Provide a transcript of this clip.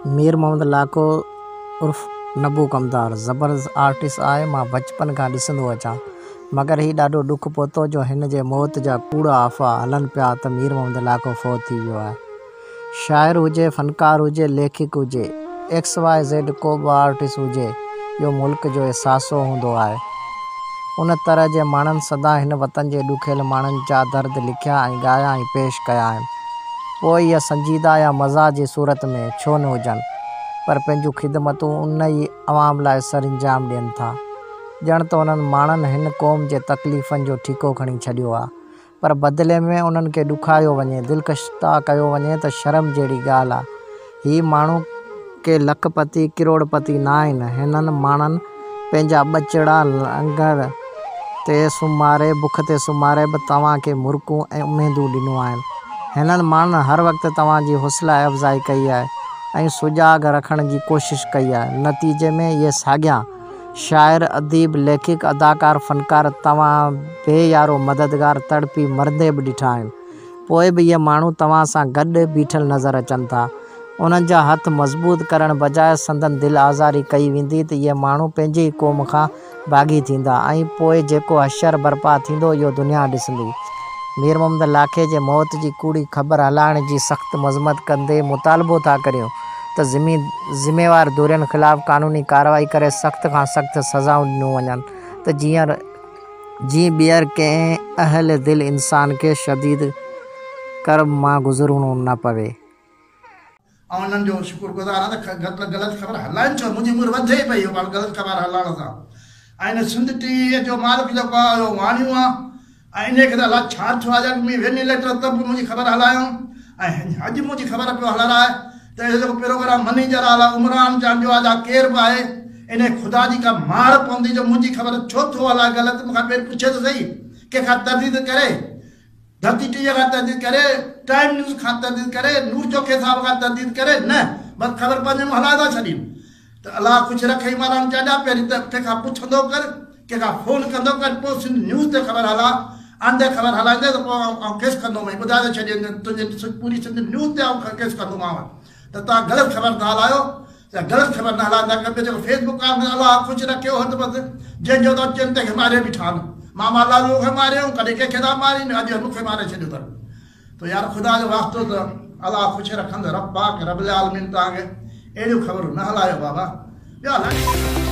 مير محمد لاکو عرف نبو ڪمدار زبردست آرٽسٽ آهي مان بچپن کان ڏسندو اچان مگر هي ڏاڍو ڏک پهتو جو هن جي موت جا ڪوڙا آفا هلن پيا ته مير محمد لاکو فوت ٿي ويو آهي شاعر هجي فنڪار هجي ليکڪ هجي ايڪس واء زيڊ ڪوبه آرٽسٽ هجي اهو ملڪ جو اثاثو هوندو آهي ان طرح جي ماڻهن سدا هن وطن جي ڏکيل ماڻهن جا درد لکيا ۽ ڳايا ۽ پيش ڪيا آهن. پوء اهي سنجيده يا مزاح جي صورت ۾ ڇو نه هجن، پر پنهنجون خدمتون ان ئي عوام لاء سرانجام ڏين ٿا. ڄڻ ته انهن ماڻهن هن قوم جي تڪليفن جو ٺيڪو کڻي ڇڏيو آ، پر بدلي ۾ انهن کي ڏکايو وڃي، دلڪشتا ڪيو وڃي ته شرم جهڙي ڳالهه آ. هي ماڻهو ڪي لک پتي ڪروڙ پتي ناهن. هنن ماڻهن پنهنجا ٻچڙا لنگر تي سمهاري بک تي سمهاري به توهان کي مرڪون ۽ اميدون ڏنيون آهن. هنن ماڻهن هر وقت توهان جي حوصلا افزائي ڪئي آهي ۽ سجاڳ رکڻ جي ڪوشش ڪئي آهي. نتيجي ۾ اهي ساڳيان شاعر، اديب، ليکڪ، اداڪار، فنڪار، توهان بي يارو مددگار تڙپي مرندي به ڏٺا آهن. پوء به اهي ماڻهو توهان سان گڏ بيٺل نظر اچن ٿا. انهن جا هٿ مضبوط ڪرڻ بجاء سندن دل آزاري ڪئي ويندي ته اهي ماڻهو پنهنجي ئي قوم کان باغي ٿيندا ۽ پوء جيڪو حشر برپا ٿيندو اهو دنيا ڏسندي. مير محمد لاکي جي موت جي ڪوڙي خبر هلائڻ جي سخت مذمت ڪندي مطالبو ٿا ڪريون ته ذميوار ڌرين خلاف قانوني ڪارروائي ڪري سخت کان سخت سزائون ڏنيون وڃن ته جيئن جيئن ٻيهر ڪنهن اهل دل انسان کي شديد ڪرب مان گذرڻو نه پوي. آئون انهن جو شڪر گذار آهيان ته گهٽ غلط خبر هلائين ڇو منهنجي عمر وڌي پئي اهو پاڻ غلط خبر هلائڻ سان ۽ هن سنڌ ٽي وي جو مالڪ جيڪو آهي اهو واڻيون آهي ۽ انهي کي ته الاء ڇا ٿيو آهي جا ڪي مين وين اليڪٽر تب به منهنجي خبر هلايو ۽ اڄ منهنجي خبر پيو هلرائي ته اهو جيڪو پروگرام مني جلال آ عمران جان جو آ جا ڪير به آهي انهي خدا جي ڪا مار پوندي جو منهنجي خبر ڇو ٿو هلائي غلط مون کان پير پڇي ته سهي ڪنهن کان ترديد ڪري ڌرتي ٽي وي کان ترديد ڪري ٽائيم نيوز کان ترديد ڪري نور چوکي صاحب کان ترديد ڪري نه بس خبر پنهنجي مون هلائي ٿا ڇڏين ته الله خوش رکي ايمان وارن کي ادا پهرين ته ڪنهن کان پڇندو ڪر ڪنهن کان فون ڪندو ڪر پوء سنڌ نيوز تي خبر هلا آندي خبر هلائيندي ته پوء آئون ڪيس ڪندومئين ٻڌائي ته ڇڏين ته تنهنجي پوري سنڌ نيوز تي آئون ڪيس ڪندومانو ته توهان غلط خبر ٿا هلايو يا غلط خبر نه هلائندا ڪيو ٻيو جيڪو فيس بڪ آن الله خوش رکي اهو ته بس جنهن جو ته چين تنهن کي ماري بيٺا آن ماما لالو کي ماريو ڪڏهن ڪنهن کي ٿا مارين اڄ مون کي ماري ڇڏيو اٿن تو يار خدا جو واسطو ته الله خوش رکندء رب پاڪ رب العالمين توهان کي اهڙيون خبرون نه هلايو بابا ٻيا لک